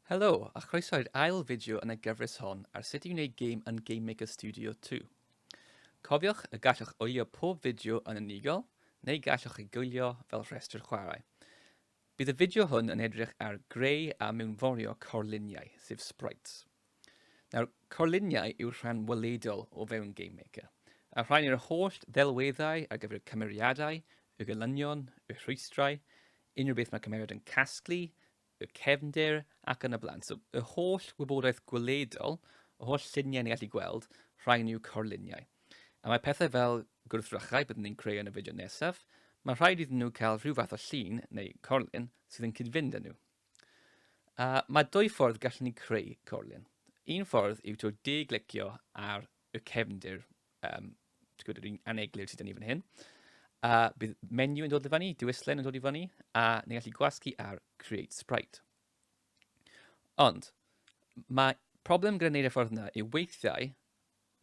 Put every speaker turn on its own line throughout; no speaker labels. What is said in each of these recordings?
Helo, a chroeso i'r ail fideo yn y gyfres hon ar sut i wneud gêm yn Game Maker Studio 2. Cofiwch y gallwch wylio pob fideo yn unigol, neu gallwch ei gwylio fel rhestr chwarae. Bydd y fideo hwn yn edrych ar greu a mewnforio corluniau, sef sprites. Nawr, carluniau yw'r rhan weledol o fewn GameMaker, a rhain yw'r holl ddelweddau ar gyfer y cymeriadau, y gelynion, y rhwystrau, unrhyw beth mae cymeriad yn casglu, y cefndir ac yn y blaen. So, y holl wybodaeth gweledol, y holl lluniau ni'n gallu gweld, rhain yw carluniau. A mae pethau fel gwrthrychau byddwn ni'n creu yn y fideo nesaf, mae rhaid iddyn nhw cael rhyw fath o llun neu carlun sydd yn cyd-fynd â nhw. Uh, mae dwy ffordd gallwn ni creu corlun. Un ffordd yw to de-glicio ar y cefndir, um, gwybod, yr un aneglur sydd yn ni fan hyn. A uh, bydd menu yn dod i fyny, diwyslen yn dod i fyny, a ni'n gallu gwasgu ar Create Sprite. Ond, mae problem gyda wneud y ffordd yna yw weithiau,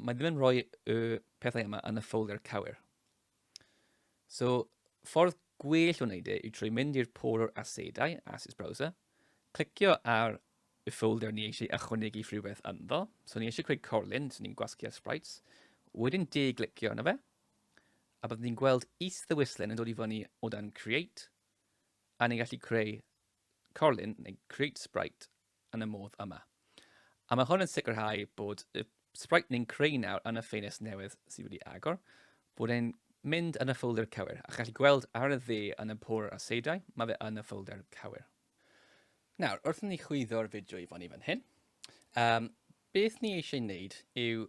mae ddim yn rhoi y pethau yma yn y ffolder cywir. So, ffordd gwell o wneud e yw trwy mynd i'r pôl o'r asedau, Assets Browser, clicio ar y ffolder ni eisiau ychwanegu rhywbeth ynddo. So ni eisiau creu corlun, so ni'n gwasgu ar sprites. Wedyn de glicio yna fe, a byddwn ni'n gweld is ddewislen yn dod i fyny o dan create, a ni'n gallu creu corlun neu create sprite yn y modd yma. A mae hwn yn sicrhau bod y sprite ni'n creu nawr yn y ffenest newydd sydd wedi agor, bod e'n mynd yn y ffolder cywir, a chi'n gallu gweld ar y dde yn y pôr a seidau, mae fe yn y ffolder cywir. Nawr, wrth ni chwyddo'r fideo i fyny fan hyn, um, beth ni eisiau wneud yw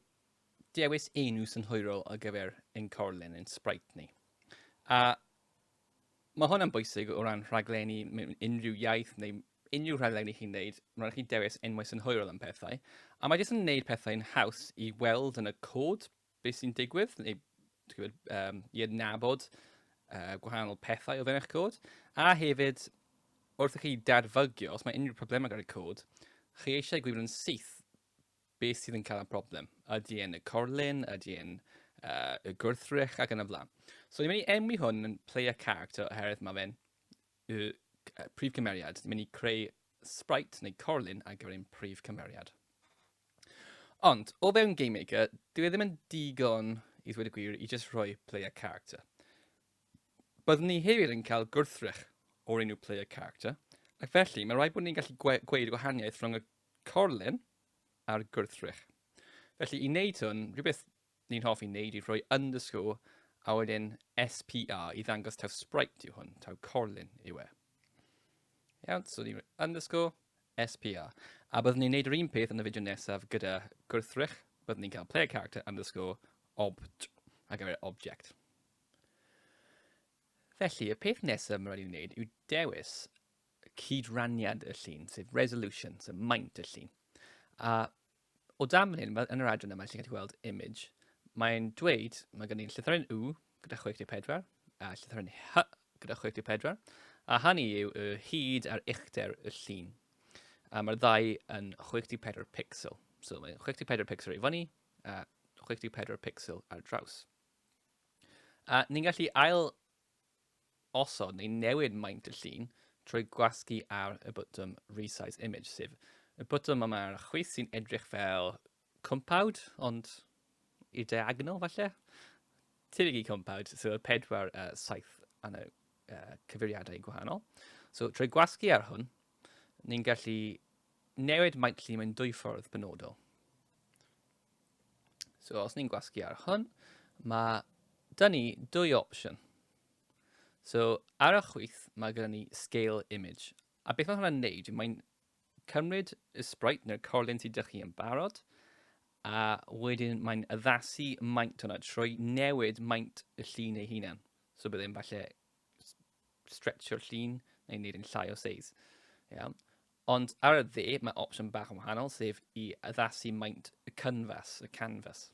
dewis enw synhwyrol ar gyfer ein corlen, ein sprite ni. A mae hwn yn bwysig o ran rhaglenni mewn unrhyw iaith neu unrhyw rhaglen i chi'n neud, mae'n rhaid chi dewis enwau synhwyrol am pethau, a mae jyst yn neud pethau'n haws i weld yn y cod beth sy'n digwydd, neu gwybod, um, i adnabod uh, gwahanol pethau o fewn eich cod, a hefyd, wrth i chi dadfygio, os mae unrhyw problemau gyda'r cod, chi eisiau gwybod yn syth beth sydd yn cael y problem. Ydy e'n y corlun, ydy e'n uh, y gwrthrych ac yn y flan. So ni'n mynd i enwi hwn yn player character oherwydd mae fe'n Y prif cymeriad. Dwi'n mynd i creu sprite neu corlun ar gyfer ein prif cymeriad. Ond, o fewn Game Maker, dwi e ddim yn digon i ddweud y gwir i just rhoi player character. Byddwn ni hefyd yn cael gwrthrych o'r enw player character, ac felly mae rhaid bod ni'n gallu gwe gweud y gwahaniaeth rhwng y corlun a'r gwrthrych. Felly i wneud hwn, rhywbeth Ni'n hoffi wneud yw rhoi underscore a wedyn SPR i ddangos taw sprite yw hwn, taw corlun yw e. Iawn, so ni'n underscore SPR. A byddwn ni'n neud yr un peth yn y fideo nesaf gyda gwrthrych, byddwn ni'n cael player character underscore obt a gyfer object. Felly, y peth nesaf mae'n rhaid i ni wneud yw dewis cydraniad y llun, sef resolution, sef maint y llun. A o dan fan hyn, fel yn yr adran yma, ti'n gallu gweld image, mae'n dweud, mae gen i'n llythyren U gyda 64, a llythyren H gyda 64, a hynny yw y hyd a'r uchder y llun. A mae'r ddau yn 64 pixel. So mae'n 64 pixel i fyny a 64 pixel ar draws. A ni'n gallu ail osod neu newid maint y llun trwy gwasgu ar y botwm Resize Image, sef y botwm yma ar y chwith sy'n edrych fel cwmpawd, ond i'r diagonol falle. Tebyg i cwmpawd, so y pedwar uh, saith yn y uh, cyfeiriadau gwahanol. So trwy gwasgu ar hwn, ni'n gallu newid maint llun mewn dwy ffordd penodol. So os ni'n gwasgu ar hwn, mae dyn ni dwy opsiwn. So ar y chwith mae gyda ni scale image. A beth mae hwnna'n neud? Mae'n cymryd y sprite neu'r corlun sydd ydych chi yn barod a wedyn mae'n addasu maint hwnna trwy newid maint y llun ei hunan. So byddai'n falle stretchio'r llun neu wneud yn llai o seis. Iawn. Ond ar y dde, mae opsiwn bach yn wahanol, sef i addasu maint y canfas, y canfas.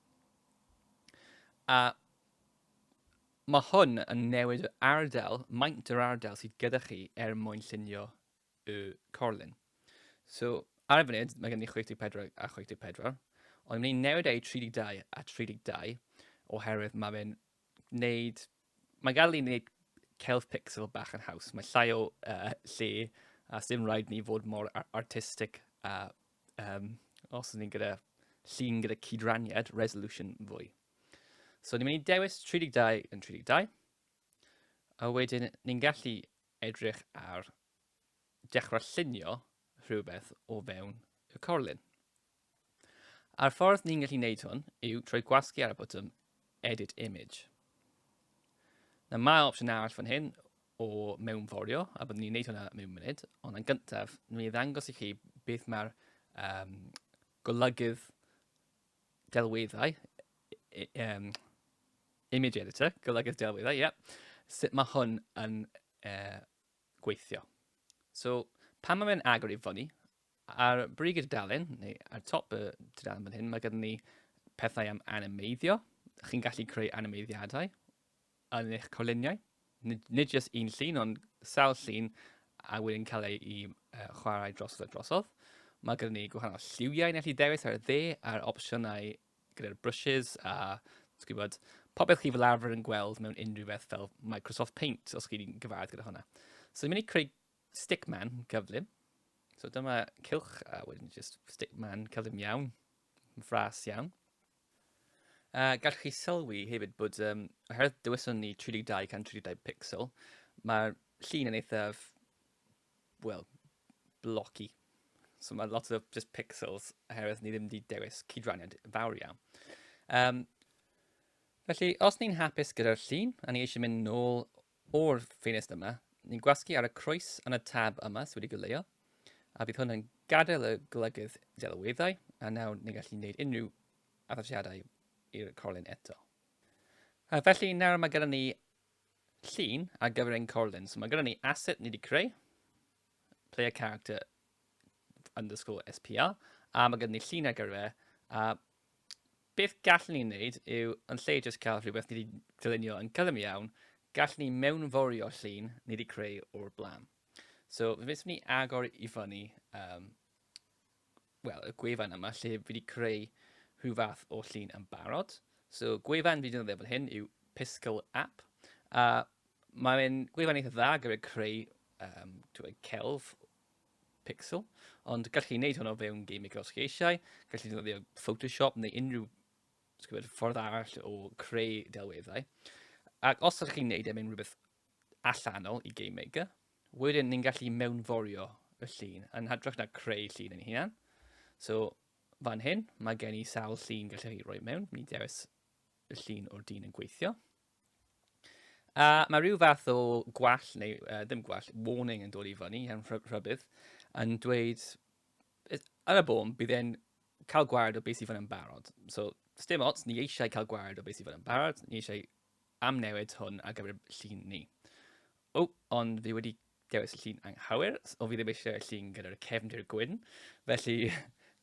A mae hwn yn newid yr ardal, maint yr ardal sydd gyda chi er mwyn llunio y corlun. So, ar y funud, mae gen ni 64 a 64, ond ni'n newid ei 32 a 32, oherwydd mae fe'n wneud Mae'n gael ei wneud celf pixel bach yn haws. Mae llai o uh, lle a sy'n rhaid ni fod mor artistig a um, os ni'n gyda llun gyda cydraniad resolution fwy. So ni'n mynd i dewis 32 yn 32 a wedyn ni'n gallu edrych ar dechrau llunio rhywbeth o fewn y corlun. A'r ffordd ni'n gallu neud hwn yw trwy gwasgu ar y botwm Edit Image. Na mae opsiwn arall fan hyn o mewnforio, a byddwn ni'n neud hwnna mewn munud, ond yn gyntaf, nwn i ddangos i chi beth mae'r um, golygydd delweddau, um, image editor, golygydd delweddau, ie, yeah, sut mae hwn yn uh, gweithio. So, pan mae'n agor i fyny, Ar brig y dudalen, neu ar top y dudalen fan hyn, mae gyda ni pethau am animeiddio. Chi'n gallu creu animeiddiadau yn eich coluniau. Nid, nid jyst un llun, ond sawl llun a wedyn cael ei i, uh, chwarae drosodd a drosodd. Mae gyda ni gwahanol lliwiau yn allu dewis ar y dde a'r opsiynau gyda'r brushes a gwybod, popeth chi fel arfer yn gweld mewn unrhyw beth fel Microsoft Paint, os chi'n gyfarwydd gyda hwnna. So ni'n mynd i creu Stick man, cyflym. So dyma cylch a wedyn just stick man, cyflym iawn, fras iawn. A uh, gallwch chi sylwi hefyd bod, um, oherwydd dyweson ni 32 can 32 pixel, mae'r llun yn eithaf, wel, blocky. So mae lot o just pixels, oherwydd ni ddim wedi dewis cydraniad fawr iawn. Um, felly, os ni'n hapus gyda'r llun, a ni eisiau mynd nôl O'r ffenest yma, ni'n gwasgu ar y croes yn y tab yma sydd wedi goleuo, a bydd hwn yn gadael y golygydd delweddau, a nawr ni'n gallu gwneud unrhyw addasiadau i'r corlun eto. A felly nawr mae gyda ni llun ar gyfer ein corlun. So mae gyda ni asset ni wedi creu, player character underscore SPR, a mae gyda ni llun ar gyfer a Beth gallwn ni wneud yw, yn lle jyst cael rhywbeth ni wedi dylunio yn gyflym iawn, gallwn ni mewnforio llun ni wedi creu o'r blaen. So, fe wnaethon ni agor i fyny um, well, y gwefan yma lle fi wedi creu rhyw fath o llun yn barod. So, gwefan fi wedi defnyddio fel hyn yw Piscal App. A mae'n gwefan eitha dda gyda creu um, celf pixel, ond gallwch chi wneud hwn o fewn Gmaker os chi eisiau, gallwch chi ddefnyddio Photoshop neu unrhyw gwybod, ffordd arall o creu delweddau. Ac os ydych chi'n gwneud e mewn rhywbeth allanol i Game Maker, wedyn ni'n gallu mewnforio y llun yn hytrach na creu llun yn hunan. So, fan hyn, mae gen i sawl llun gallwch chi roi mewn. Mi dewis y llun o'r dyn yn gweithio. A mae rhyw fath o gwall, neu uh, ddim gwall, warning yn dod i fyny yn rhybydd, yn dweud, yn y bôn, bydd e'n cael gwared o beth sydd fan yn barod. So, dim ots, ni eisiau cael gwared o beth sydd fan yn barod, ni eisiau amnewid hwn ar gyfer llun ni. O, ond fi wedi dewis y llun anghywir, o fi ddim eisiau y llun gyda'r cefndir gwyn, felly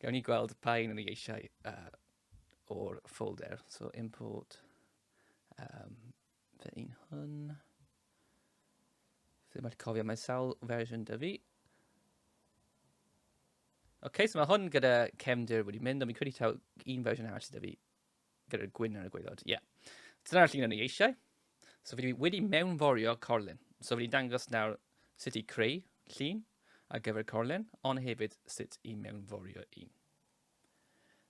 gawn ni gweld pa un o'n i eisiau uh, o'r folder. So import um, fy un hwn. Ddim wedi cofio, mae sawl fersiwn dy fi. Oce, okay, so mae hwn gyda cefndir wedi mynd, ond mi'n credu taw un fersiwn arall sydd dy fi gyda'r gwyn ar y gweilod. Ie. Yeah. Dyna'r llun o'n i eisiau. So fi wedi mewnforio corlun. So fi'n dangos nawr sut i creu llun ar gyfer corlun, ond hefyd sut i mewnforio un.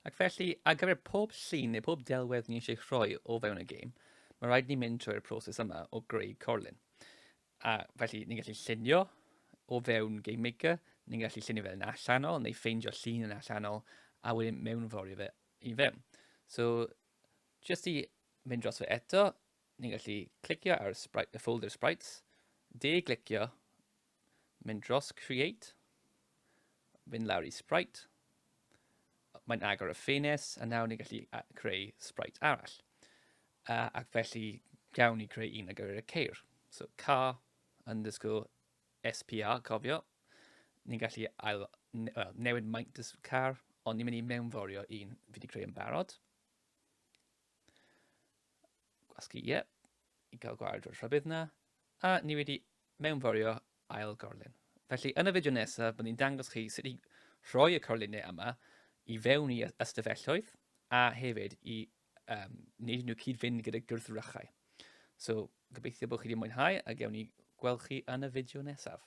Ac felly, ar gyfer pob llun neu pob delwedd ni eisiau rhoi o fewn y gêm, mae rhaid ni mynd trwy'r proses yma o greu corlun. A felly, ni'n gallu llunio o fewn Game Maker, ni'n gallu llunio fe yn allanol, neu ffeindio llun yn allanol, a wedyn mewnforio fe i fewn. So, jyst i mynd dros fe eto, ni'n gallu clicio ar y, sprite, y folder sprites, de-glicio mynd dros Create, mynd lawr i Sprite, mae'n agor y ffenest, a nawr ni'n gallu creu Sprite arall. Uh, ac felly, gawn ni creu un ar gyfer y ceir. So, car underscore SPR, cofio, ni'n gallu ail, well, newid maint y car, ond ni'n mynd i mewnforio un fi wedi creu yn barod. Gwasgu, ie. Yeah. I gael gwared o'r rhybydd na. A ni wedi mewnforio ail gorlun. Felly yn y fideo nesaf, byddwn i'n dangos chi sut i rhoi y corlunau yma i fewn i ystafelloedd a hefyd i um, wneud nhw cyd-fynd gyda gwrthrychau. So, gobeithio bod chi wedi mwynhau a gewn ni gweld chi yn y fideo nesaf.